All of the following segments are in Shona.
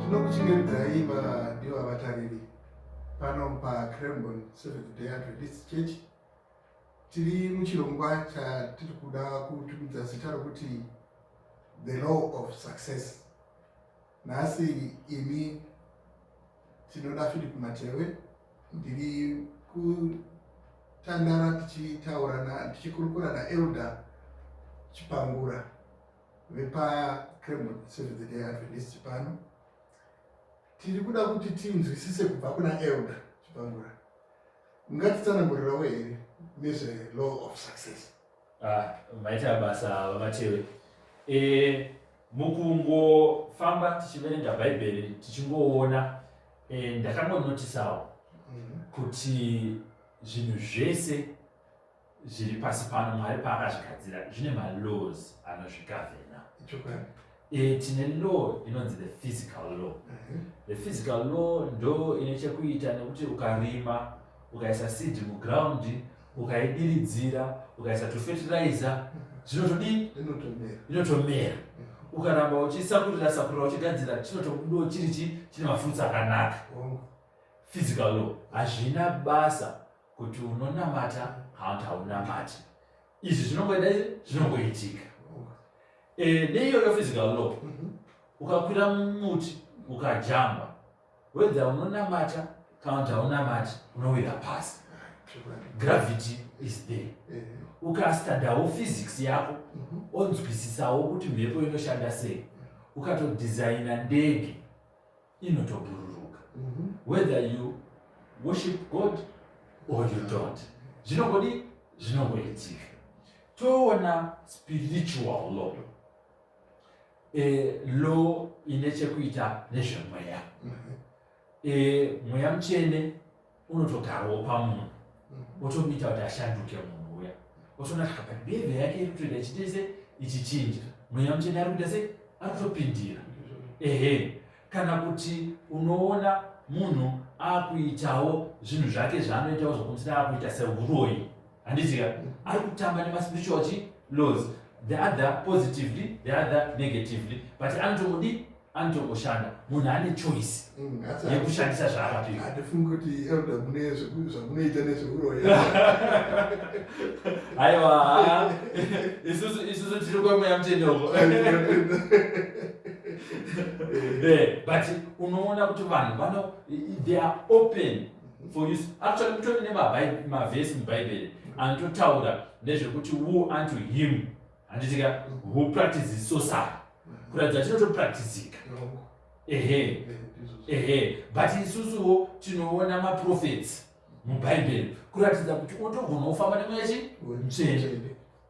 tinokuchingamidzayi vadiwa vatariri pano pacrambon seventh day adventist church tiri muchirongwa chatiri kuda kutumidza zita rokuti the law of success Nhasi ini tinoda Philip Matewe ndiri kutandara tichitaurana tichikurukura naElder Chipangura vepaCremon Seventh Day Adventist pano tiri kuda kuti tinzwisise kubva kuna Elder Chipangura ungatitsanangurirawo here nezvelaw of success ah, maita basa vamatewe e, Mukungofamba tichiverenga Bhaibheri tichingoona eh, ndakangonotisawo mm. kuti zvinhu zvese zviri pasi pano mwari paakazvigadzira zvine malaws anozvigavhena e, tine law inonzi the physical law uh mhm. -huh. the physical law ndo ine chekuita nekuti ukarima ukaisa seed muground ukaidiridzira ukaisa tufertilizer zvinotodii inotomera ukaramba uchisakurira sakurira uchigadzira chinotokudo chiri chi chine mafruits akanaka physical law hazvina basa kuti unonamata hauti haunamati izvi zvinongoita izvi zvinongoitika e, neiyoyo physical law mhm. ukakwira mumuti ukajamba Whether unonamata kana kuti haunamati unowira pasi. Gravity is there. Eh. Ukastadawo physics yako mhm. onzwisisawo kuti mhepo inoshanda sei. Ukatodesigna ndege inotobhururuka. Mhm. Whether you worship God or you don't. Zvinongodi zvinongoitika. Toona spiritual law. e, law ine chekuita nezvemweya mhm. e, mweya mutsvene unotogarawo pamunhu mhm. otomuita kuti ashanduke munhu uya otoona kuti apa behavior yake iri kutoita ichitese ichichinja mweya mutsvene ari kuita sei ari kutopindira ehe kana kuti unoona munhu akuitawo zvinhu zvake zvaanoitawo zvokumusira akuita seuroyi handizika ari kutamba nemaspiritual chi laws the other positively the other negatively but anotomudi anotongoshanda munhu ane choice mm, yekushandisa zvaakapihaiwa isusu tiri kwemweya mutendeuko Eh, but unoona kuti vanhu vano they are open for use actually kutori nemavhesi mubhaibheri anototaura nezvekuti wo unto him handitika who practices sosai kuratidza kuti tinotopracticika ehe ehe but isusuwo tinoona maprofets mubhaibheri kuratidza kuti unotogona kufamba nemweya chi mutsvene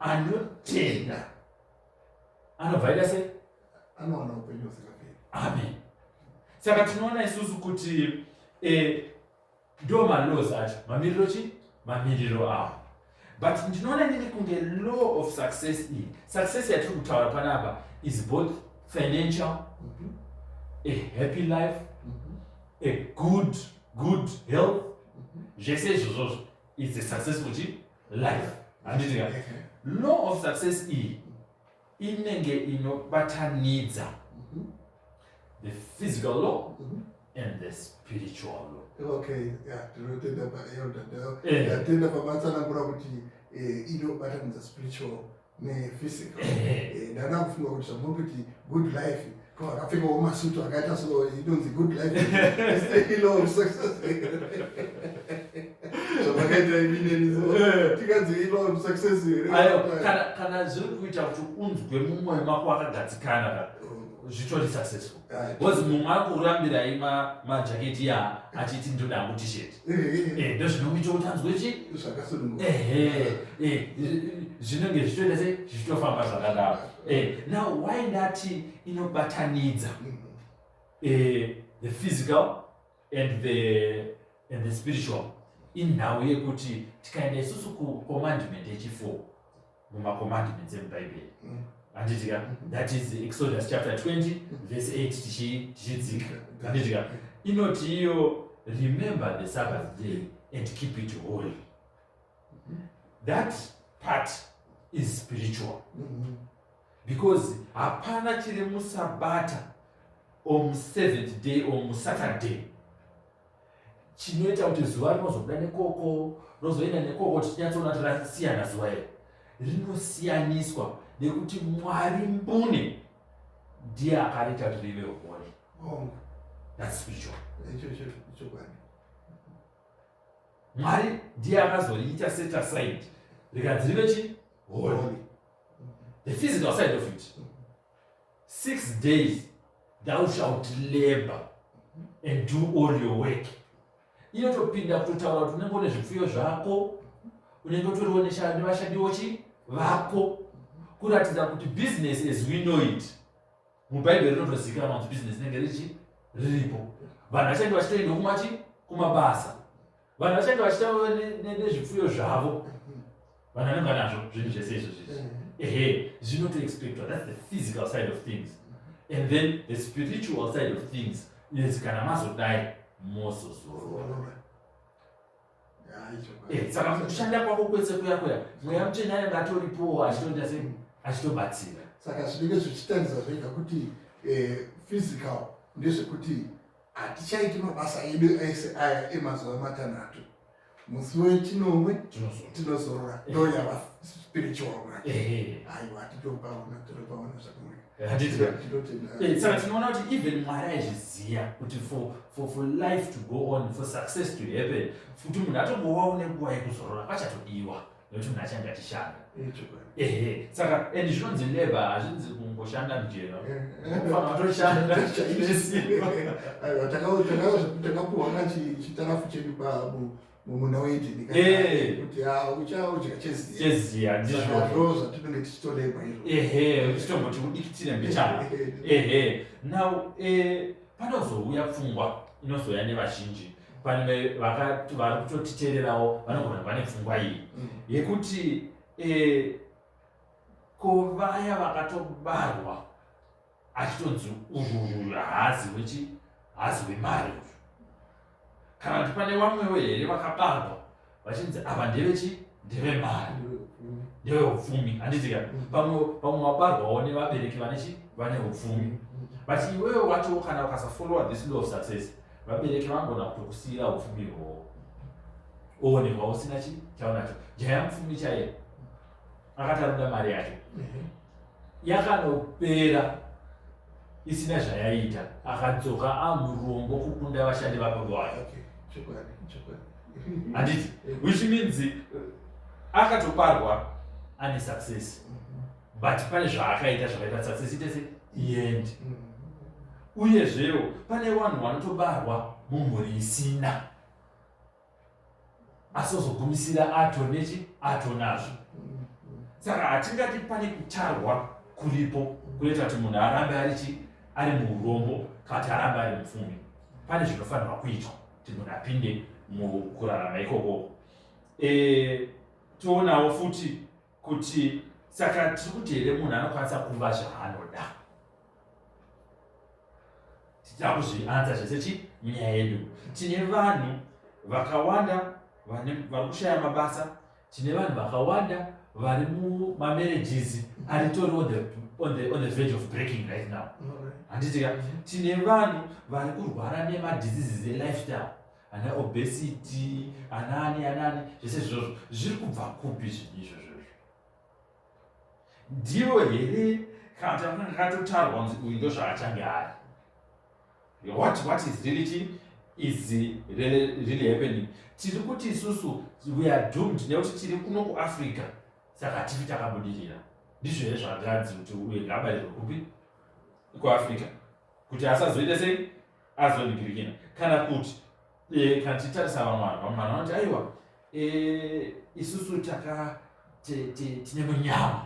anotenda anobva aita sei anowana upenyu husingaperi amen saka tinoona isusu kuti eh, ndo malaws acho mamiriro chi mamiriro awo but ndinoona nini kunge law of success iyi success yatiri kutaura panapa is both financial mm -hmm. a happy life mm -hmm. a good good health mm -hmm. zvese izvozvozvo is a successful chi life handiti ka law of success iyi inenge inobatanidza Mhm. the physical law Mhm. and the spiritual law okay yeah tinotenda paelder Eh. ndatenda pamatsanangura kuti eh, inobatanidza spiritual nephysical eh, ndada kufunga kuti zvamuri kuti good life ko akapfekawo masutu akaita so inonzi good life ilow of success zvamakaita imineni so eh. tikanzi ilow of success here kana zviri kuita kuti unzwe mumwoyo mako wakagadzikana ka oh. zvitori successful bcoz mumwe akurambirai majaketi ya achiti ndoda hangu tisheti eh, ndozvinokuita kuti anzwe chi zvinenge zvichitoita se zvichitofamba zvakadaro now why ndati inobatanidza mm. the physical and the, and the spiritual inhau yekuti tikaenda isusu kucommandment yechifour mumacommandments emubhaibheri mm. handitika that is exodus chapter 20 verse 8 tichidzika handitika inoti iyo remember the sabbath day and keep it holy that part is spiritual mm-hmm. because hapana chiri musabata or museventh day or musaturday chinoita kuti zuva rinozobuda nekoko rozoenda nekoko tichinyatsoona kuti rasiyana zuva iri rinosiyaniswa nekuti mwari mbune ndiye akarita kuti rive hori that's spiritual Mwari ndiye akazoriita set aside rikanzi rive chi holy the physical side of it six days thou shalt labor and do all your work inotopinda kutotaura kuti unenge une zvipfuyo zvako unenge utoriwo nevashandiwo chi vako kuratidza kuti business as we know it mubhaibheri rinotozivikanwa kuti bhizinesi rinenge richi riripo vanhu vachange vachitoenda kumachi kumabasa vanhu vachange vachita nezvipfuyo zvavo vanhu vanenge vanazvo zvinhu zvese izvo zvizvi mm-hmm. ehe zvinotoexpectwa thats the physical side of things and then the spiritual side of things is kana mazodai mozozorora Eh, saka kushanda kwako kwese kuya kuya mweya mutsvene anenge atoripowo achitoita se achitobatsira saka zvinenge zvichitarisa zvega kuti eh, physical ndezvekuti hatichaiti mabasa edu ese aya emazuva matanhatu musi wechinomwe tinozorora eh. ndoyava spiritual mwacho aiwa titopaona tinopaona zvakanaka Eh, saka tinoona kuti even mwari aizviziva kuti for, for, for life to go on for success to happen kuti munhu atombovawo nenguva yekuzorora kwachatodiwa nekuti munhu achange achishanda ehe saka and zvinonzi leba hazvinzi kungoshanda mujero fana watoshanda takapuhwa chitarafu chedu mumunda weedeni eh. kuti ah, uchaudya cheziya ndizvozvo zvatinenge tichitoreba izvo ehe uchitomboti udikitire mbichana ehe now eh, panozouya pfungwa inozouya nevazhinji pane vari kutotitererawo vanogona vane pfungwa iyi mm. yekuti eh, ko vaya vakatobarwa achitonzi uyu uyu haazi wechi haazi wemari uyu kana kuti pane vamwewo here vakabarwa vachinzi ava ndevechi ndevemari ndeveupfumi handiti ka pamwe pamwe wabarwawo nevabereki vanechi vane upfumi but iwewe wacho kana ukasafollowa this law of success vabereki vangona kutokusiyira upfumi hwowo oonekwa usina chi chaunacho jaya mupfumi chaiye akati anoda mari yacho yakanopera isina zvayaita akadzoka amurombo kukunda vashandi vababa wake handiti which means akatoparwa ane success mhm. but pane zvaakaita zvakaita success itese iend mhm. uyezvewo pane vanhu vanotobarwa mumhuri isina asi ozogumisira ato nechi ato nazvo saka hatingati pane kutarwa kuripo kunoita kuti munhu arambe ari chi ari muurombo kana kuti arambe ari mupfumi pane zvinofanirwa kuitwa kuti munhu apinde mukurarama ikoko e, toonawo futi kuti saka tiri kuti here munhu anokwanisa kuva zvaanoda tichida kuzvianza zvese chi munyaya yedu tine vanhu vakawanda vari kushaya mabasa tine vanhu vakawanda vari mumamarriages aritori on the, on the, on the verge of breaking right now handitika tine vanhu vari kurwara nemadiseases elifestyle ana obesity anaani anaani zvese izvozvo zviri kubva kupi zvinhu izvozvo ndivo here kana tanga kakatotarwa kunzi uyu ndo zvaachange ari what what is really chi is really, really happening tiri kuti isusu we are doomed nekuti tiri kuno kuafrica saka tifi takabudirira ndizvo here zvakanzi kuti uye ngabarirwe kupi kuafrica kuti asazoita sei azonigirikina kana kuti Eh, kana tichitarisa vamwe vanhu vamwe vanhu vanoti aiwa eh, isusu taka ti- ti- tine munyama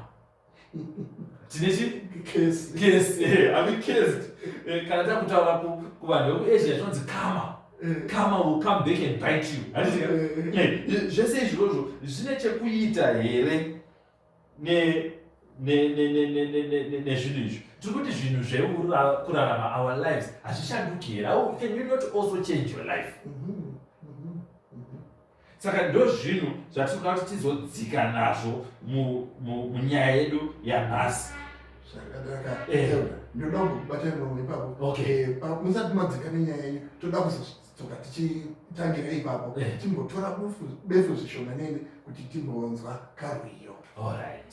tine chi Kesi. kesi eh, ave kesi Eh, kana takutaura ku- kuvanhu vekuasia tinonzi kama Eh, kama will come back and bite you handiti ka? eh, Eh, zvese izvozvo zvine chekuita here nezvinhu izvi tiri kuti zvinhu zvekurarama our lives hazvishanduki here how can you not also change your life mm-hmm. saka ndo zvinhu zvatinoda kuti tizodzika nazvo munyaya yedu yanhasi eh. ndoda kubatira mumwe ipapo eh, musati madzika nenyaya yenyu toda kuzo tsoka tichitangira ipapo eh. timbotora befu zvishomanene kuti timbonzwa karwiyo allright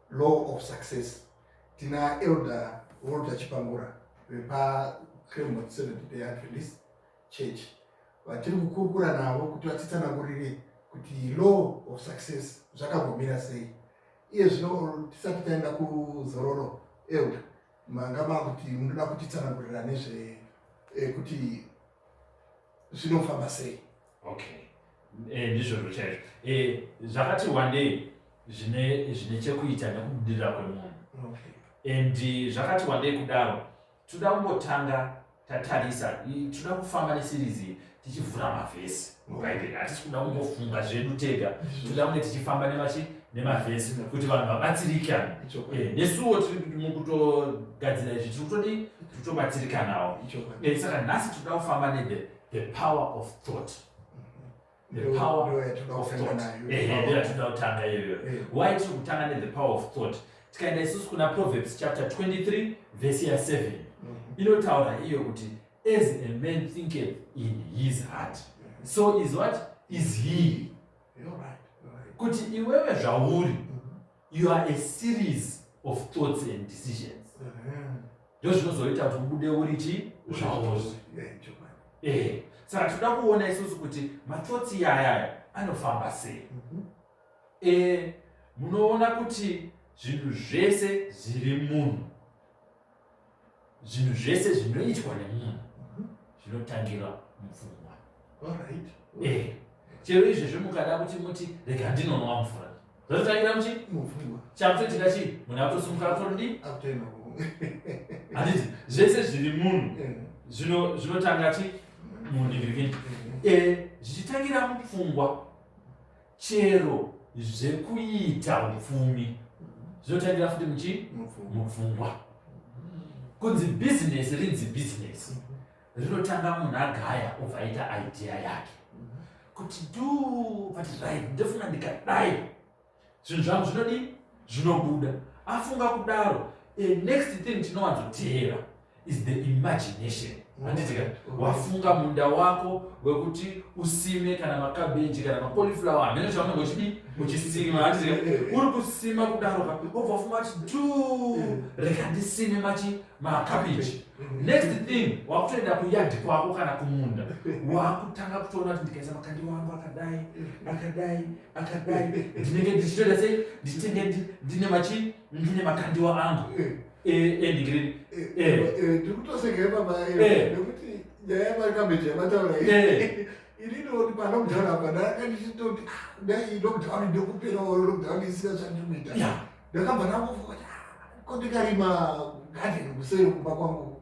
law of success tina elder walter chipangura vepacremot seventh day adventist church vatiri kukurukura navo kuti vatitsanangurire kuti law of success zvakambomira sei iye zvino tisati taenda kuzororo elder manga makuti munoda kutitsanangurira nezve eh, kuti zvinofamba sei okay eh, ndizvozvo chaizvo eh, zvakati wandei zvine zvine chekuita nekubudirira kwemunhu and eh, zvakati wandei kudaro toda kumbotanga tatarisa toda kufamba nesirizi tichivhura mavhesi mubhaibheri hatisi kuda kungofunga zvedu tega tinoda kunge tichifamba nemachi nemavhesi kuti vanhu vabatsirike eh, nesuwo mukutogadzira izvi tiri kutodi tiri kutobatsirikanawo eh, saka nhasi tinoda kufamba nethe the power of thought yatinoda kutanga iyoyo why tiri kutanga nethe power of thought tikaenda isusu kuna proverbs chapter 23 vhesi ya 7 mm-hmm. inotaura iyo kuti as a man thinketh in his heart so is what is he kuti iwewe zvauri mm-hmm. you are a series of thoughts and decisions ndo zvinozoita kuti ubude uri chi zvauri eh, saka tinoda kuona isusu kuti mathoughts iyayaya anofamba sei mm-hmm. eh, munoona kuti zvinhu zvese zviri munhu zvinhu zvese zvinoitwa nemunhu mhm. zvinotangira mupfungwa eh, chero izvezvo mukada kuti muti rega ndinonwa mvura zvototangira muchi mupfungwa chakutoitika chii munhu akutosimuka kutoridi handiti zvese zviri munhu eh. zvinotanga chi mundivivini eh. zvichitangira mupfungwa chero zvekuita upfumi zvotangira futi muchi mupfungwa kunzi bhizinesi rinzi bhizinesi rinotanga munhu agaya obva aita idea yake kuti du but right ndofunga ndikadai zvinhu zvangu zvinodii zvinobuda afunga kudaro a next thing tinowanzoteera is the imagination handitika wafunga munda wako wekuti usime kana makabeji kana macoliflower hamene chaunenge uchidi uchisima handitika uri kusima kudaro ka obva wafunga kuti du reka ndisime machi makabeji next thing wakutoenda kuyadhi kwako kana kumunda wakutanga kutoona kuti ndikaisa makandi wangu akadai akadai akadai ndinenge ndichitoita sei ndichitenge ndine machi ndine makandiwa angu endigiri ndikutosekere baba nekuti nyaya yamaikambeji yamataura inini oti panomudauri apa ndanga ndichitoti dai lockdown ndokupera oyo lockdown isina zvandinoita ndakabva ndangofunga kuti ko ndikarima garden kuseri kumba kwangu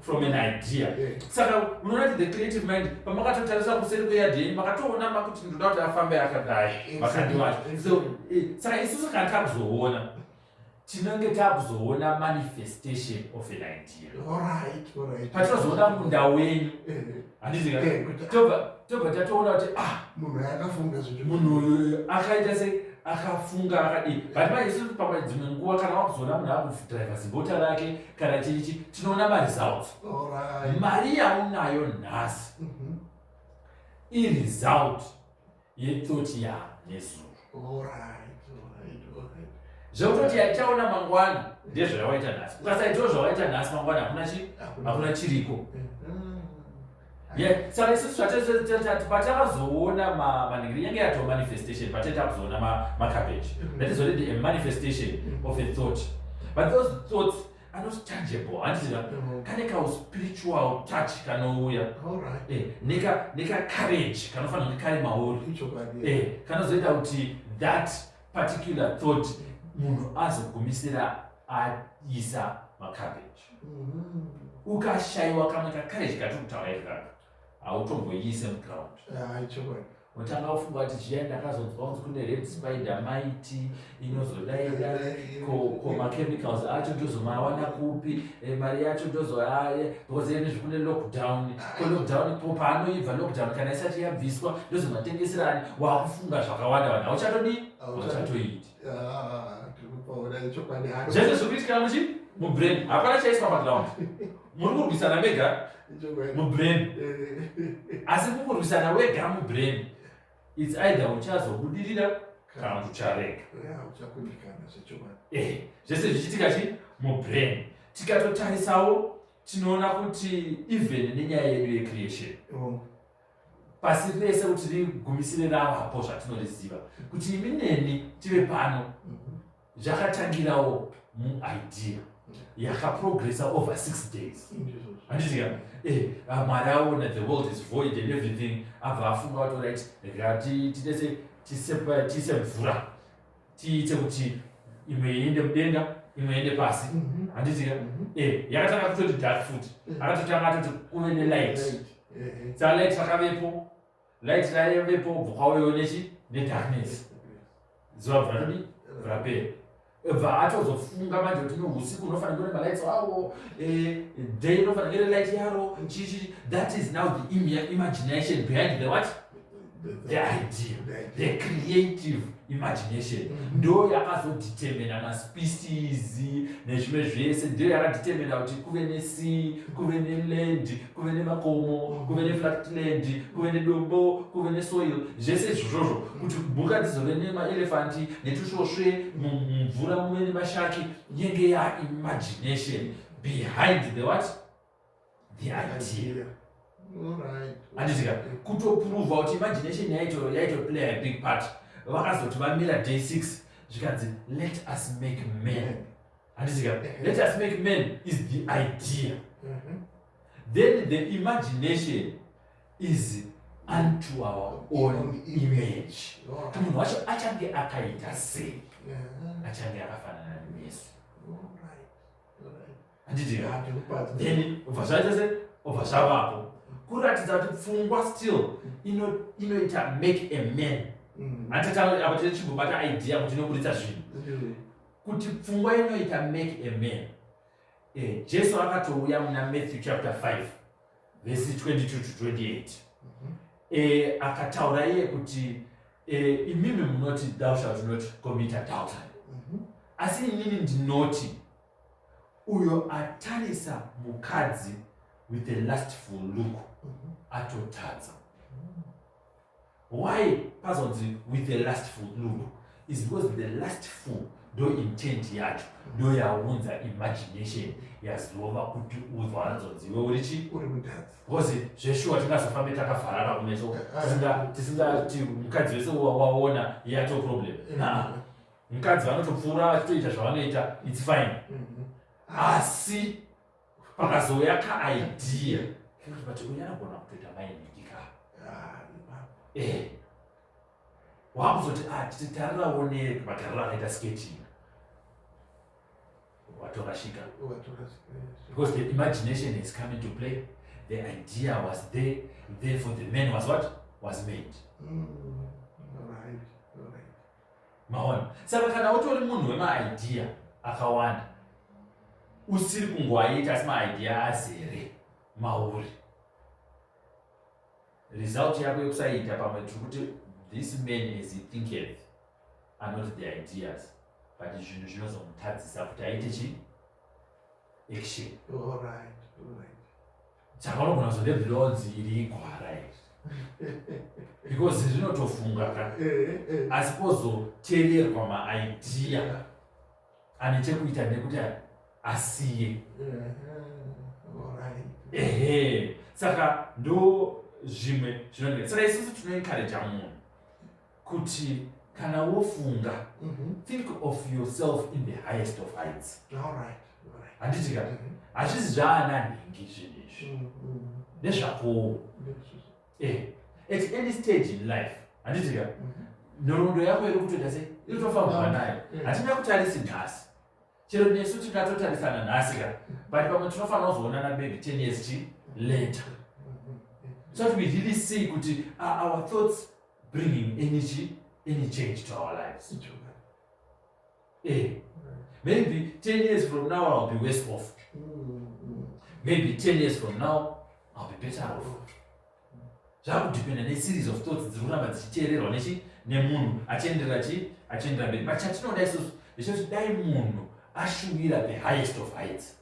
from an idea saka unoona kuti the creative mind pamakatotarisa kuseri kweyard yenyu makatoona makuti ndoda kuti afambe akadai vakandi vacho so eh, saka isusu kana takuzoona tinenge takuzoona manifestation of an idea patinozoona munda wenyu eh. handizi tobva tobva tatoona kuti ah munhu uyu akafunga zvinhu munhu uyu akaita se akafunga akadii but manje isusu pamwe dzimwe nguva kana wakuzoona munhu akudriva zibota rake kana chiri chi tinoona maresults mari yaunayo nhasi mhm. iresult yetoti ya nezuro zvekutoti yatichaona mangwana ndezvayawaita nhasi ukasaitawo zvawaita nhasi mangwana hakuna chi hakuna chiriko mm-hmm. saka isusu zvatatati patakazoona maningiri yange yatoo manifestation pataita kuzoona macabbage mm-hmm. that is already a manifestation mm-hmm. of a thought but those thoughts anoti tangible handiziva mm. kane kauspiritual touch kanouya eh, nekacourage kanofanira kuti kari mauri eh, kanozoita kuti that particular thought munhu azogumisira aisa macabbage mm-hmm. ukashayiwa kamwe kacourage katiri kutaura ikaka hautomboiise muground ah, Wotanga kufunga kuti zviya ndakazonzwa kuti kune red spider mighty inozodaira ko ko machemicals acho ndozomawana kupi eh, mari yacho ndozoaye because ene zvekune lockdown ko lockdown ko paanoibva lockdown kana isati yabviswa ndozomatengeserani wakufunga zvakawanda vanhu hauchatodii hauchatoiti zvese zviri kuitikana muchi mubrain hapana chaiswa paground muri kurwisana mega mubrain asi kukurwisana wega mubrain its either uchazobudirira kana kuti ucharega eh, zvese zvichiitika chi mubrain tikatotarisawo tinoona kuti even nenyaya yedu yecreation oh. pasi rese kuti rigumisire ravapo zvatinoziva kuti imi neni tive pano mm-hmm. zvakatangirawo muidea yakaprogressa over six days andiziva eh, ah, mwari aona the world is void and everything abva afunga wato right ngatitese tise mvura tiite kuti imwe iende mudenga imwe iende pasi mhm. andiziva mhm. eh, yakatanga kutoti dark food eh. akatotanga atoti kuve nelight salight vakavepo light rayo vepo ubva kwauyo nechi nedarkness zuva bva todi rapera bva atozofunga manje kuti no usiku unofanira kuve nemalights awo eh, day unofanira kuve nelight yaro chichi that is now the imagination behind the what the idea the creative imagination mm. ndo yakazodetermina maspecies nezvimwe zvese ndo yakadetermina kuti kuve nesi kuve neland kuve nemakomo kuve nefractland kuve nedombo kuve nesoil zvese izvozvozvo kuti mhuka dzizove nemaelefanti netusvosve mumvura muve nemashaki yenge yaimagination behind the what the idea anditika kutoprova kuti imagination yaitoplaya big part vakazoti vamira day six zvikanzi let us make man handizika let us make man is the idea mm-hmm. then the imagination is unto our own image kuti munhu wacho achange akaita sei achange akafanana nesu handitika then obva zvaita se obva zvavapo kuratidza kuti pfungwa still inoita make a man mm. handitataapo tine chimbobata idea kuti inoburitsa zvinhu kuti pfungwa inoita make a man eh, jesu akatouya muna matthew chapter 5 vesi 22 to 28 mhm. eh, akataura iye kuti eh, imimi munoti thou shalt not commit adultery mhm. asi inini ndinoti uyo atarisa mukadzi with a lastful look mhm. atotadza why pazonzi with the last fool ludo is because the last fool ndo intent yacho ndo yaunza imagination yazova kuti uzwa anzonzi iwe uri chi uri mutadzi bcause zveshuwa tingazofambe takafarara kumeso tisingati mukadzi wese waona yato problem na mukadzi vanotopfuura vachitoita zvavanoita its fine mm-hmm. asi pakazouya kaidea kekuti but uyu anogona kutoita mainiki ka eh wakuzoti ah titi tarira woneke magariro akaita sketching watorashika because the imagination is coming to play the idea was there therefore the man was what was made mm. maona saka kana utori munhu wemaidea akawanda usiri kungoaita asi maidea azere mauri result yako yekusaita pamwe tiri kuti this man is thinketh anoti the ideas but zvinhu zvinozomutadzisa kuti aite chi action Chakanogona kuzode bronze iri igwara iri. Because zvinotofunga ka. Asi pozoteererwa maidea ane chekuita nekuti asiye. Ehe. Saka ndo zvimwe zvinonge. Saka isusu tinoencourager munhu. kuti kana wofunga mm -hmm. think of yourself in the highest of heights handiti ka mhm. hazvizi zvaana nhingi zvinhu izvi mm, mm, mm. nezvakowo eh, at any stage in life handiti ka mhm. nhoroondo yako iri kutoita sei iri tofambwa nayo hatina kutarisi nhasi chero nesu tingatotarisana nhasi ka but pamwe tinofanira kuzoonana maybe ten years chi later mhm, so that we really see kuti uh, our thoughts bringing any chi any change to our lives eh maybe 10 years from now i'll be worse off maybe 10 years from now i'll be better off zvakudependa neseries of thoughts dziri kuramba dzichiteererwa nechi nemunhu achienderera chi achienderera mberi but chatinoda isusu ndechekuti dai munhu ashuvira the highest of heights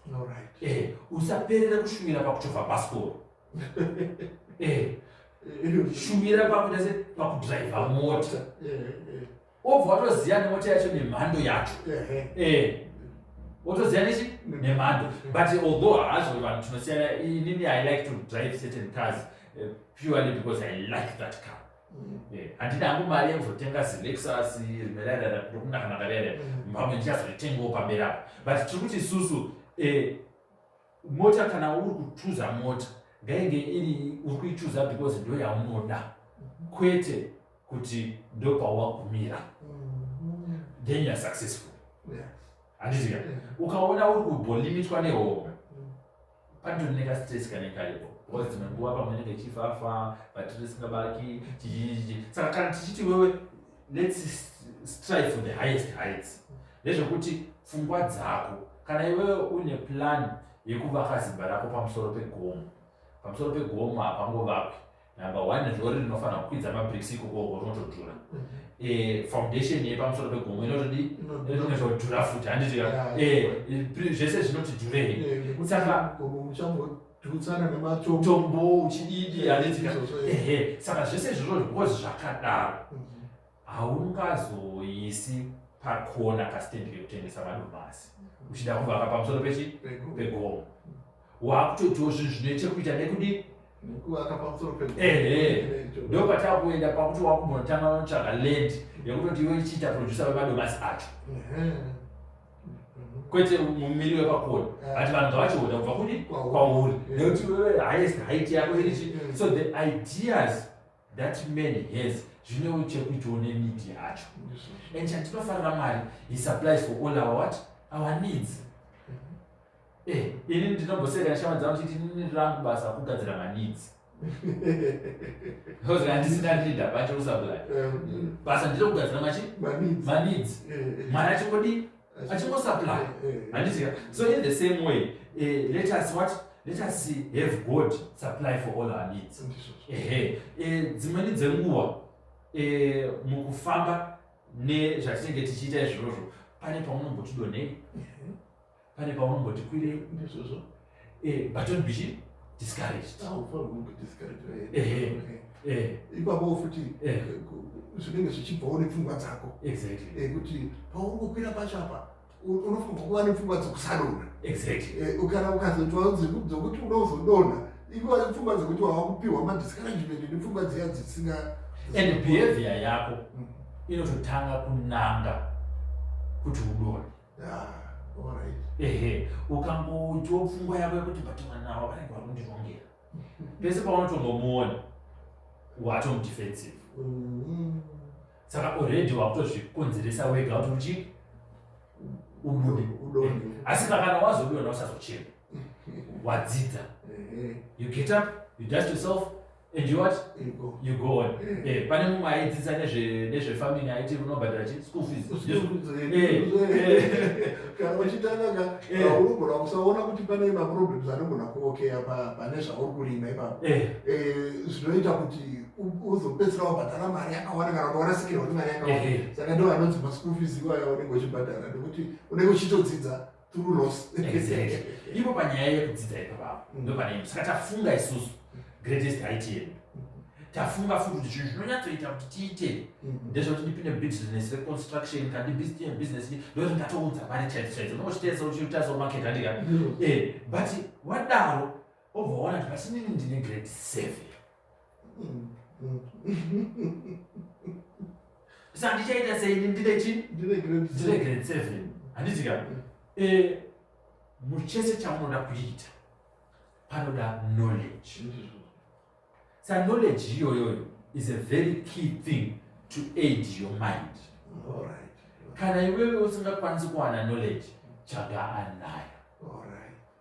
eh usaperera kushuvira pakuchova bhasikoro eh, shumira pakuita se pakudriva mota obva watoziva nemota yacho nemhando yacho wotoziva nechi nemhando but although hazvo vanhu tinosiyana inini i like to drive certain cars eh, purely because i like that car handina hangu mari yekuzotenga zilexus rimerarara ndokunakanaka rere pamwe ndichazoitengawo pamberi apo but tiri kuti isusu eh, mota kana uri kuchuza mota ngainge iri uri kuichuza because ndo yaunoda kwete kuti ndo pawagumira then youare successful handizika ukaona uri kubolimitwa nehomwe panditori nekastress kane karipo because dzimwe nguva pamwe nenge chifafa vatiri singabaki chichichichi saka kana tichiti wewe let's strive for the highest heights nezvekuti pfungwa dzako kana iwewe une plan yekuvaka zimba rako pamusoro pegomo pamusoro pegomo hapangovakwi number one zvori rinofanira kukwidza mabricks ikokoko rinotodhura mhm. eh, foundation yepamusoro pegomo inotodi inotodhura futi handiti eh, zvese zvinoti dhurei saka tutsana nematombo uchididi anetsika ehe saka zvese izvozvo zvikozi zvakadaro mm-hmm. haungazoisi pakona kasitendi kekutengesa madomasi mm-hmm. uchida kuvaka pamusoro pechi pegomo wakutotiwo zvinhu zvine chekuita nekudii ehe ndo patava kuenda pakuti wakumbonotanga notsvaga land yekutoti iwe ichiita producer vemadomasi acho kwete mumiri wepakona but vanhu ngavachiona kubva kudi kwauri nekuti highest height yako iri chi so the ideas that man has zvinewo chekuitawo nenid yacho and chandinofarira mwari he supplies for all our what our needs mm-hmm. eh, ini ndinomboseka neshama dzangu chiti nini rangu basa kugadzira maneeds because handisi ndandida pacho usabulai basa ndiro kugadzira machi maneeds mwana achingodii achingosupply handizika so in the same way eh, let us what let us have god supply for all our needs ehe eh, dzimweni dzenguva eh, mukufamba nezvatinenge tichiita izvozvo pane paunombotidonei pane pavanomboti kwirei ndizvozvo eh, but don't be discouraged ipapo futi zvinenge zvichibvawo nepfungwa dzako kuti paungokwira pacho apa unofanirwa kuva nepfungwa dzokusadonha kana ukazotwa dzokuti unozodonha iva nepfungwa dzokuti wava kupiwa madiscouragement nepfungwa dziya dzisinga and behavior yako mm. inototanga kunanga kuti udonhe ehe ukangotiwo pfungwa yako yekuti but mwana avo vanenge vakundirongera pese paunotongomuona watomudefensive mm-hmm. saka already wakutozvikonzeresa wega kuti uchii ubude eh, asi pakana wazobiona usazochema wadzidza eh, eh. you get up you dust yourself And you what? You go. You go on. Yeah. Eh, pane mumwe aidzidza nezve nezve farming aiti unobhadhara chi school fees. School fees. Eh. eh. Kana uchitanga ka eh. unogona kusaona kuti pane ma problems anogona kuokea pa pane zvauri kurima ipapo. Eh. Eh zvinoita kuti uzopedzisira wabhadhara mari yakawanda kana kuti warasikirwa nemari yakawanda. Saka ndo anonzi ma school fees iwayo unenge uchibhadhara nekuti unenge uchitodzidza through loss exactly ipo panyaya yekudzidza ipapapa mm. ndopanei saka tafunga isusu greatest height yedu tafunga futi kuti zvinhu zvinonyatsoita kuti tiite mm. ndezvekuti ndipinde business reconstruction kana ndibusiness ndokuti ndatoudza mari chaidzo chaidzo nokuchitesa uchitarisa umarket handika mm. eh, but wadaro obva waona kuti pasinini ndine grade seven sa ndichaita sei ndine chi ndine grade seven handiti ka eh, muchese chamunoda kuita panoda knowledge sa knowledge iyoyoyo is a very key thing to aid your mind kana iwewe usingakwanisi kuwana knowledge chaga anayo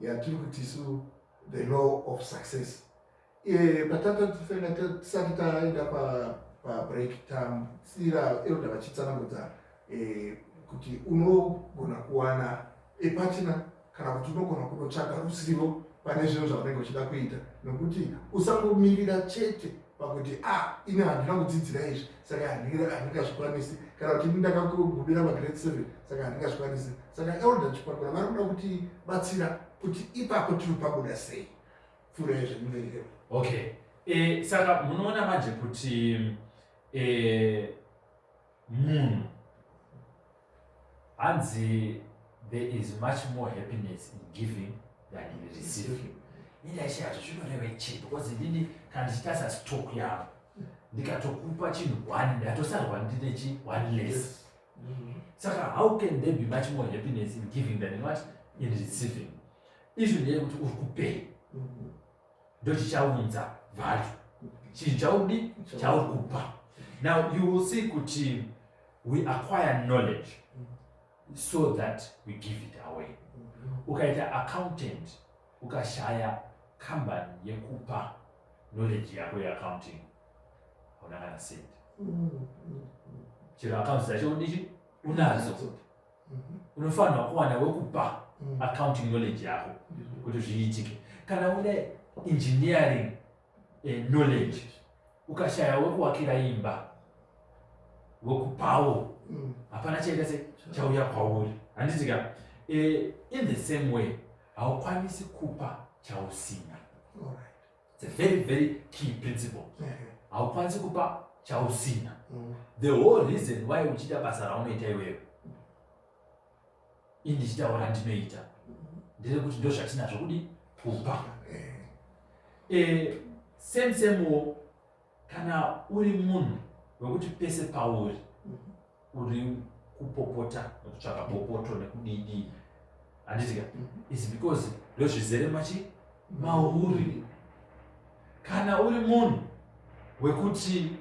yatiri kuti isu the law of success eh, patatatofena tisati taenda pabreak tam sira eroda vachitsanangudza eh, kuti unogona kuwana epatina kana kuti unogona kunotsvaga ruzivo pane zvinhu zvaunenge uchida kuita nokuti usangomirira chete pakuti a ah, ini handina kudzidzira izvi saka handingazvikwanisi kana kuti ini ndakagumira magrade seven saka handingazvikwanisi saka elder chipakura vari kuda kuti batsira kuti ipapo tiri pabuda sei pfura yezvemuverero okay e, saka munoona manje kuti e, munhu hanzi there is much more happiness in giving than in receiving indaishaazvo zvinoreva chii because ndini kana ndichitasa stock yavo ndikatokupa chinhu one ndatosarwa ndine chi one less mm-hmm. saka how can there be much more happiness in giving than what in receiving izvi ndeye kuti uri kupei mm-hmm. ndochichaunza value chinhu chaudi chauri kupa now you will see kuti we acquire knowledge so that we give it away ukaita accountant ukashaya company yekupa knowledge yako yeaccounting hauna kana sent chero accounts dzacho udichi unadzo mhm. unofanirwa kuwana wekupa mm. accounting knowledge yako mm-hmm. kuti zviitike kana une engineering eh, knowledge ukashaya wekuwakira imba wekupawo mm. hapana mm. chaita se chauya kwauri handitika eh, in the same way haukwanisi kupa chausina right. It's a very very key principle. Haukwanisi kupa chausina. Mm. The whole reason why uchita basa raunoita iwewe. Ini ndichitaura ndinoita. Mm-hmm. Ndere kuti ndo zvatinazvo kudi kupa. Eh, eh same same wo kana uri munhu wekuti pese pauri mhm. uri kupopota nekutsvaka popoto nekudidii handitika mhm. is because ndozvizere machi mauri kana uri munhu wekuti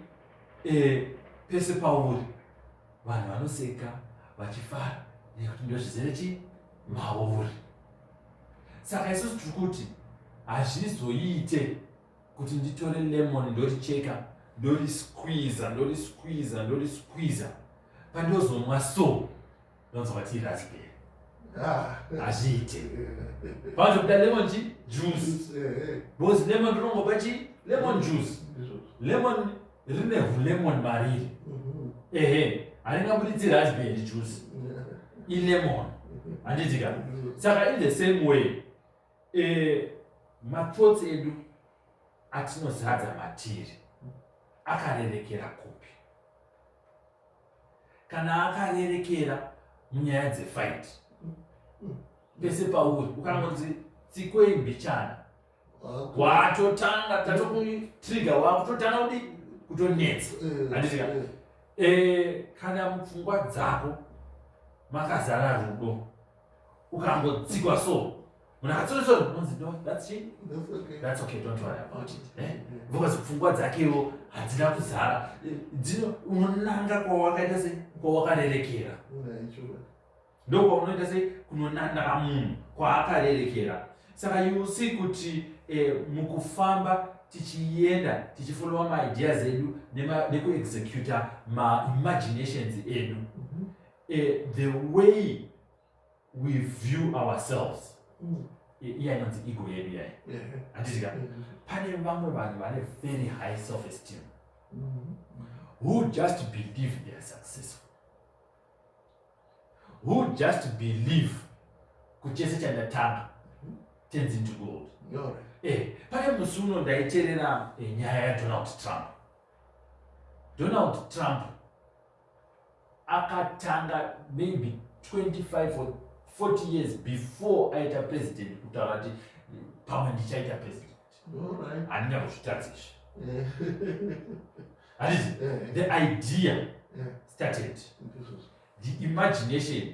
eh, pese pauri vanhu vanoseka vachifara nekuti ndozvizere chi mauri saka isusu tiri kuti hazvizoite kuti nditore lemon ndoricheka ndorisquiza ndorisquiza ndorisquiza pandozomwa so ndonzwa vati raspberry Ah. hazviite panozobuda lemon chi juice Eh, eh. because lemon rinongopa chi lemon juice Ndizvozvo. lemon rine hulemon mariri Mhm. ehe haringabuditsi raspberry juice Yeah. ilemon handidika saka in the same way Eh, mathoughts edu atinozadza matiri akarerekera kupi kana akarerekera munyaya dzefight pese pauri ukangonzi tsikwei mbichana watotanga tatokutriga wakutotanga kuti kutonetsa eh, anditika eh. eh, kana mupfungwa dzako makazara rudo ukangotsikwa so munhu akatsoreswa unonzi no that's she that's okay don't worry about it eh? because pfungwa dzakewo hadzina kuzara dzino unonanga kwawakaita se kwawakarerekera ndokwaunoita se kunonanaa munhu kwaakarerekera saka you see kuti eh, mukufamba tichienda tichifolowa maideas edu nekuexecuta maimaginations edu uh, the way we view ourselves mm. iya inonzi ego yedu yayo handiti ka mm. pane vamwe vanhu vane very high self esteem mm. who just believe they are successful who just believe kuchese chandatanga mm-hmm. tenzi into gold eh, pane musi uno ndaiterera eh, nyaya yadonald trump donald trump akatanga maybe 25 or 40 years before aita president kutaura kuti pamwe ndichaita president handina kuzvitadza izvi handizi the idea started the imagination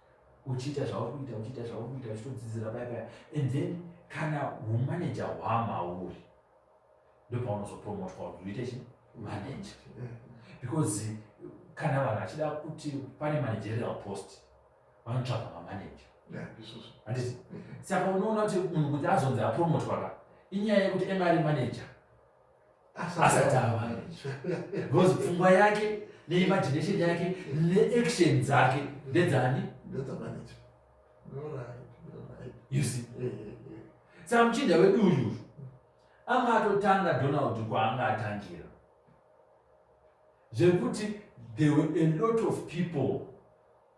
uchiita zvauri kuita uchiita zvauri kuita uchitodzidzira paya paya and then kana humanaja hwamauri ndopaunozopromotwa kuti uite chi manaja because kana vanhu vachida kuti pane managerial post vanotsvaga mamanaja handiti saka unoona kuti munhu kuti azonzi apromotwa ka inyaya yekuti mari manaja asati ava because pfungwa yake neimagination yake neaction dzake ndedzani you see eh, eh, eh. saka muchinda wedu uyu anga atotanga donald kwaanga atangira zvekuti there were a lot of people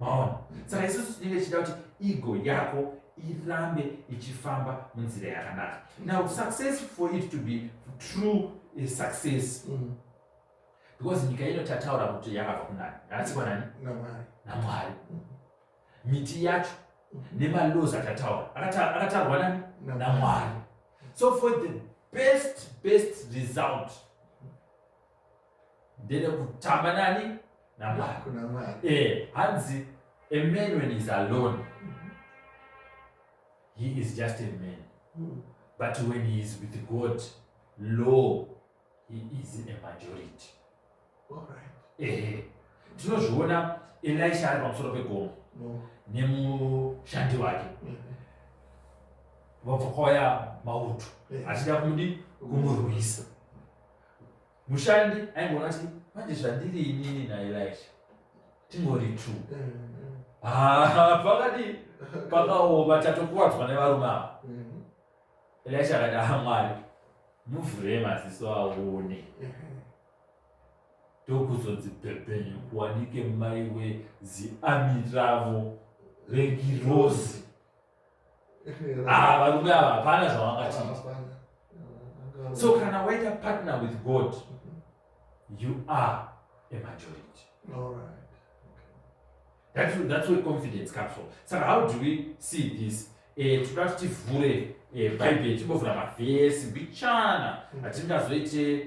maona saka isusu tinenge tichida kuti ego yako irambe ichifamba munzira yakanaka now success for it to be true eh, success mm. because nyika ino tataura kuti yakabva kunani yakatsikwa mm. nani namwari mm. miti yacho nemalows akataura akatarwa nani namwari so for the best best result ndede kutamba nani namwari eh, hanzi a man when is alone he is just a man mm. but when he is with god law he is a majority eh, tinozviona elisha ari pamusoro pegomo mm. nemushandi wake mm. vabva kwauya mauto achida kudi kumurwisa mushandi aingoona kuti manje zvandiri inini naelisha tingori two pakadi pakaoma tatokuwadzwa nevarume ava elisha akati aha mwari muvhure maziso aone ndokuzonzibhebhenyu kuwanike mai weziami ravo regirozi Ah, varume ava hapana zvavangatiita so kana waita partner with god you are a majority All right. That's, that's where confidence comes from. So how do we see this? Eh, tinoda kuti tivhure eh, bhaibheri timbovhura mavhesi mbichana mm. hatingazoite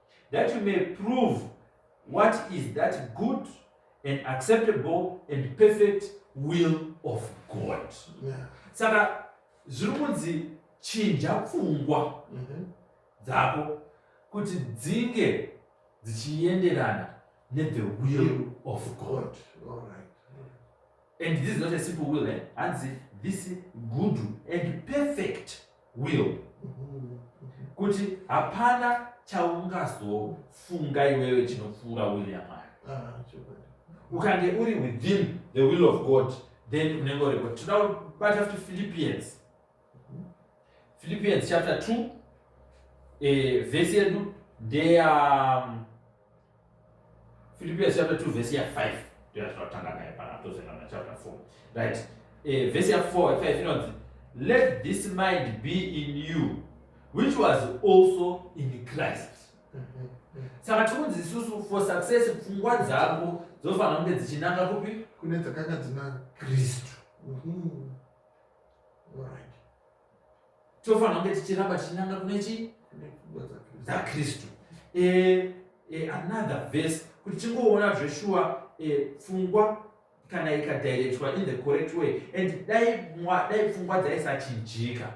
that you may prove what is that good and acceptable and perfect will of god yeah. saka zviri kunzi chinja pfungwa mm -hmm. dzako kuti dzinge dzichienderana nethe will of god All right. and this is not a simple will eh? hanzi this good and perfect will kuti hapana chaungazofunga iwewe chinopfuura will yamwari ah, ukange uri within the will of god then unenge uriko tinoda kubata futi philippians philippians chapter 2 eh, vhesi yedu ndeya um, Philippians chapter 2 verse ya 5 ndiyo yatinotanga nayo pana tozoenda na chapter 4 right eh, verse ya 4 5 inonzi let this mind be in you which was also in christ saka tikunzi isusu for success pfungwa dzangu dzofanira kunge dzichinanga kupi kune dzakanga dzina kristu mm -hmm. tofanira kunge tichiramba tichinanga kune chii dzakristu eh, eh, another verse kuti tingoona zveshuwa eh, pfungwa kana ikadirectwa in the correct way and dai dai pfungwa dzaisachinjika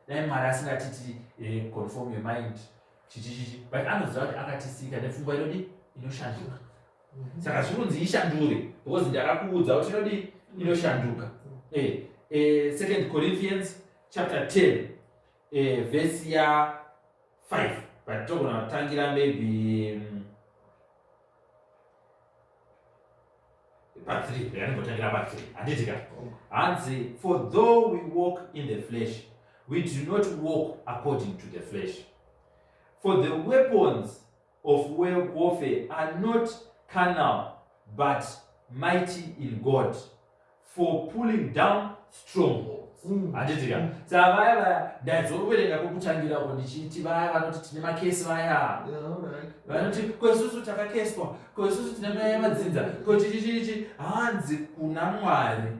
dai mwari asingatiti eh, conform your mind chichichichi but anoziva kuti akatisika nepfungwa inodi inoshanduka saka zvikunzi ishandure because ndakakuudza kuti inodii inoshanduka eh, eh, second corinthians chapter 10 eh, vhesi ya 5 but togona kutangira maybe mm, pa 3 yaningotangira pa 3 handitika hanzi for though we walk in the flesh we do not walk according to the flesh for the weapons of warfare are not carnal but mighty in God for pulling down strongholds Mm. handiti ka saa vaya vaya ndaizoverenga kwekutangira ko ndichiti vaya vanoti tine makesi vaya vanoti ko isusu takakeswa ko isusu tine mweya yemadzinza ko chichichichi hanzi kuna mwari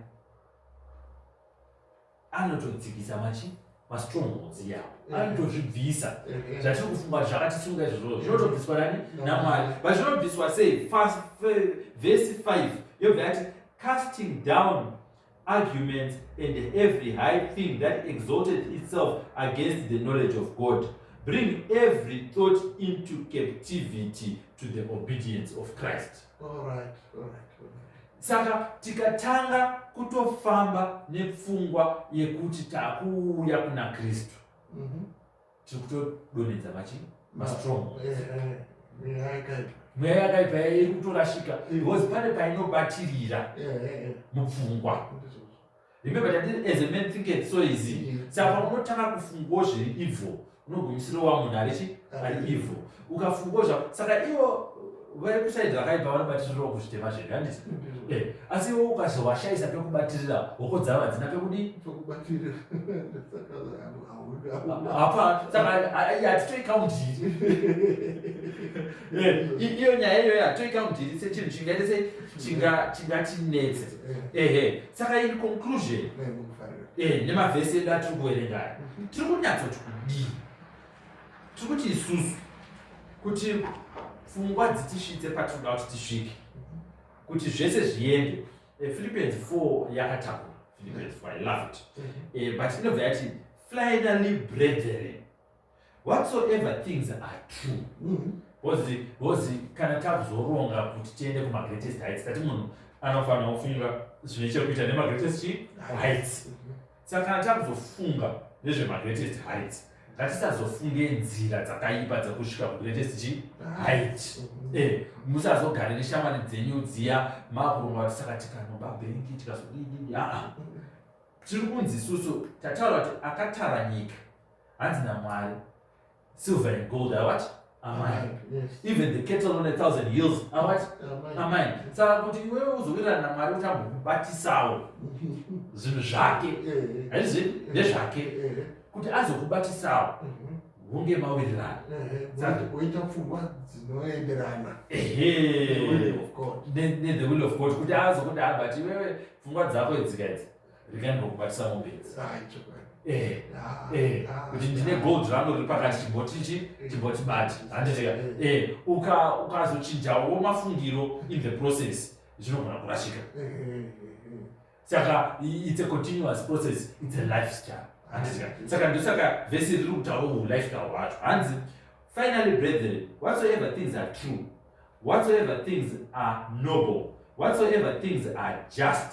anototsikisa machi mastrongholds iyawo mm. anotozvibvisa mm-hmm. zvatiri kufunga zvakatisunga izvozvo zvinotobviswa nani mm. namwari but zvinobviswa sei vhesi 5 yobva yati casting down arguments and every high thing that exalted itself against the knowledge of god bring every thought into captivity to the obedience of christ all right, all right, all right. Saka tikatanga kutofamba nepfungwa yekuti takuuya kuna Kristu mm -hmm. tiri kutodonedza machii mastrong eh, eh, eh, mweya yakaipa iri kutorashika because pane painobatirira mupfungwa Remember that as a man think it so easy. Mm. Saka unotanga kufungawo zviri evil. Unogumisira wa munhu ari chi ari evil. Ukafungawo zva saka iwo vari kusaidza vakaipa vanobatirirawo kuzvitema zvedu handiti? Mm. Eh, asi iwo ukazovashaisa pekubatirira hoko dzavo hadzina pekudi pekubatirira. Apa saka hatitoi kaundiri. Eh, iyo nyaya iyoyo hatitoi kaundiri sechinhu chingaite sei chingatinetse. Eh. Ehe. saka in conclusion eh, nemavhesi edu atiri kuverengaya mhm. tiri kunyatsoti kudii tiri kuti isusu kuti pfungwa dzitisvitse patinoda kuti tisvike kuti zvese zviende eh, philippians 4 yakatakura philippians 4 i love it mhm. eh, but inobva yati finally brethren whatsoever things are true mm-hmm. bcozi bcozi kana takuzoronga kuti tiende kumagreatest heights tati munhu anofanira kufunga zvine chekuita nemagreatest chi heights mm-hmm. saka kana takuzofunga nezvemagreatest heights ngatisazofunge nzira dzakaipa dzekusvika kugreatest chi height mm-hmm. eh, musazogare neshamwari dzenyu dziya makurunga kuti saka tikanoba bengi tikazodii aa tiri kunzi isusu tataura kuti akatara nyika hanzi namwari silver and gold are what amai even the cattle on a thousand hills are what amai saka kuti iwewe uzowirirana namwari kuti ambomubatisawo zvinhu zvake haizvi ndezvake kuti azokubatisawo hunge mawirirana oita pfungwa dzinoenderana nethe will of god kuti azokuti abati iwewe pfungwa dzako idzika idzi rega ndinokubatisa mombe idzi Eh, eh, kuti ndine gold rangu riri pakati chimboti chi chimboti bati handiteka eh, ukazochinjawo mafungiro in the process zvinogona kurashika saka it's a continuous process it's a lifestyle handiteka saka ndosaka vese riri kutaura mulifestyle wacho hanzi finally brethren whatsoever things are true whatsoever things are noble whatsoever things are just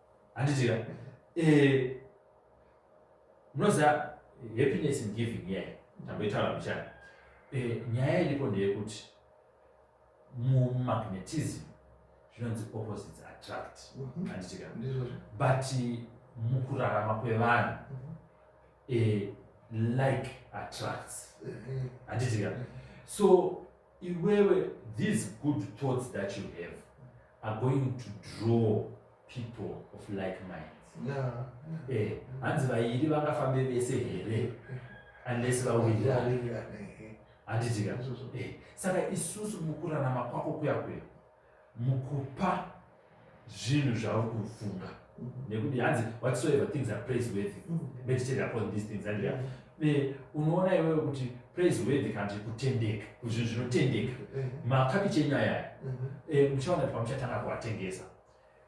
handiti ka eh, munoziva happiness in giving nyaya ndamboitaura mbichana eh, nyaya iripo ndeyekuti mumagnetism zvinonzi opposites attract mhm. handiti ka but mukurarama kwevanhu mhm. eh, like attracts eh, eh. handiti ka so Iwewe these good thoughts that you have are going to draw people of like minds. Yeah. Eh, hanzi vairi vangafambe vese here unless vawirira handitika eh, saka isusu mukurarama kwako kuya kuya mukupa zvinhu zvauri kufunga nekuti hanzi whatsoever things are praise worthy meditate upon these things andria be unoona iwewe kuti praise worthy kana kuti kutendeka kuzvinhu zvinotendeka mm-hmm. makabichi enyu ayaya mm-hmm. eh, muchaona kuti pamuchatanga kuatengesa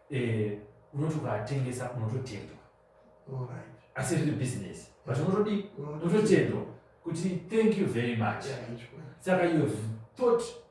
eh, unoti ukaatengesa unototendwa asi riri business but unotodi unototendwa kuti thank you very much saka you have thought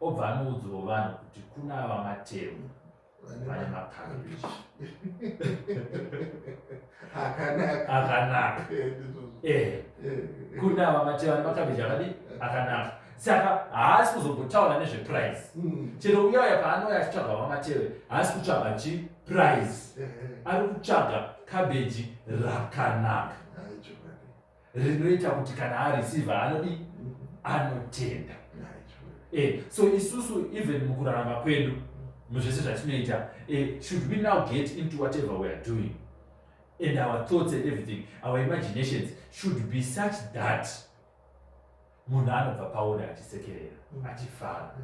obva anoudzirwa vanhu kuti kuna ava matemu vane makabichi akanaka eh, eh. kuna ava matemu ane makabichi akadi akanaka saka haasi kuzombotaura nezveprize hmm. chero uya uya paanouya achitsvaga vamatewe haasi kutsvaga chi prize eh, ari kutsvaga kabeji rakanaka rinoita kuti kana areceive anodii anotenda eh, so isusu even mukurarama kwedu muzvese zvatinoita eh, should we now get into whatever we are doing and our thoughts and everything our imaginations should be such that munhu anobva pauri achisekerera mm. achifara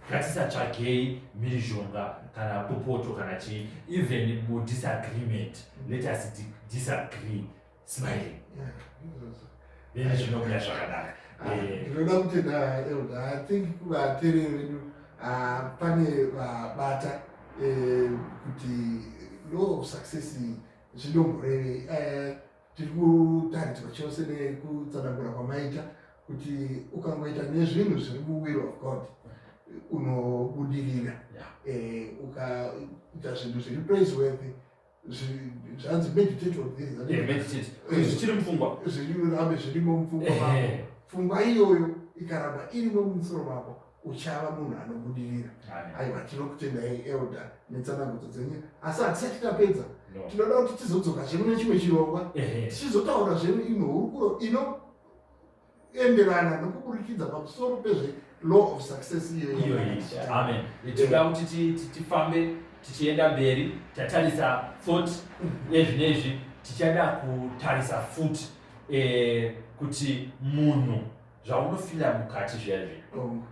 ngatisatsvagei mhirizhonga kana kupoto kana chii even mudisagreement let us disagree smiling then zvinobuda zvakanaka ah, eh. ndinoda kutenda elda i think vatereri vedu ah, pane vabata eh, kuti law of success zvinomboreve eh, tiri kutaridzwa chose nekutsanangura kwamaita kuti ukangoita nezvinhu zviri muwill of god unobudirira ukaita zvinhu zviri praiseworthy zvanzi meditate on this eh, meditate eh, zvichiri mupfungwa zvirambe zvirimo mupfungwa eh. mako pfungwa iyoyo ikaramba irimo mumusoro mako uchava munhu anobudirira aiwa tinokutendai elder netsanangudzo dzenyu asi hatisati tapedza tinoda kuti tizodzoka zvemu nechimwe chirongwa tichizotaura zvemu imwe hurukuro ino enderana nokuburikidza pamusoro pezve law of success iyoyoameetoda kuti tifambe tichienda mberi tatarisa thought nezvi nezvi tichada kutarisa futi eh, kuti munhu zvaunofila mukati zviya zvi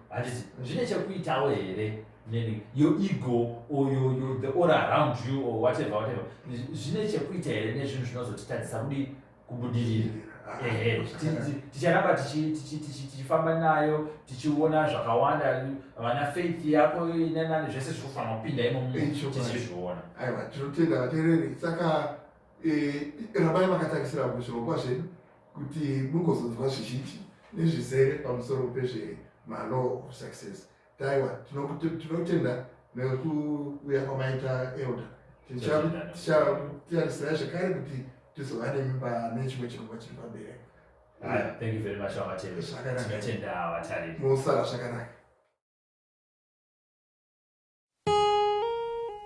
handizi oh. zvine chekuitawo here meaning your ego or your, your, the aura around you or whatever whatever zvine chekuita here nezvinhu zvinozotitadzisa kudii kubudirira ehe ticharamba tichifamba nayo tichiona zvakawanda vana faith yako inanani zvese zviri kufanira kupinda imomotichizviona aiwa tinotenda vatereri saka e, rambai makatarisira kuzvirongwa zvedu kuti mugozonzwa zvizhinji nezvizere pamusoro pezvemano success Taiwa, tinotenda nekuuya kwamaita elda. Tichatiarisira zvekare kuti tizova nemimba nechimwe chirongwa chiri pamberi. Thank you very much vamateve. Zvakanaka. Tinotenda vatariri. Musara zvakanaka.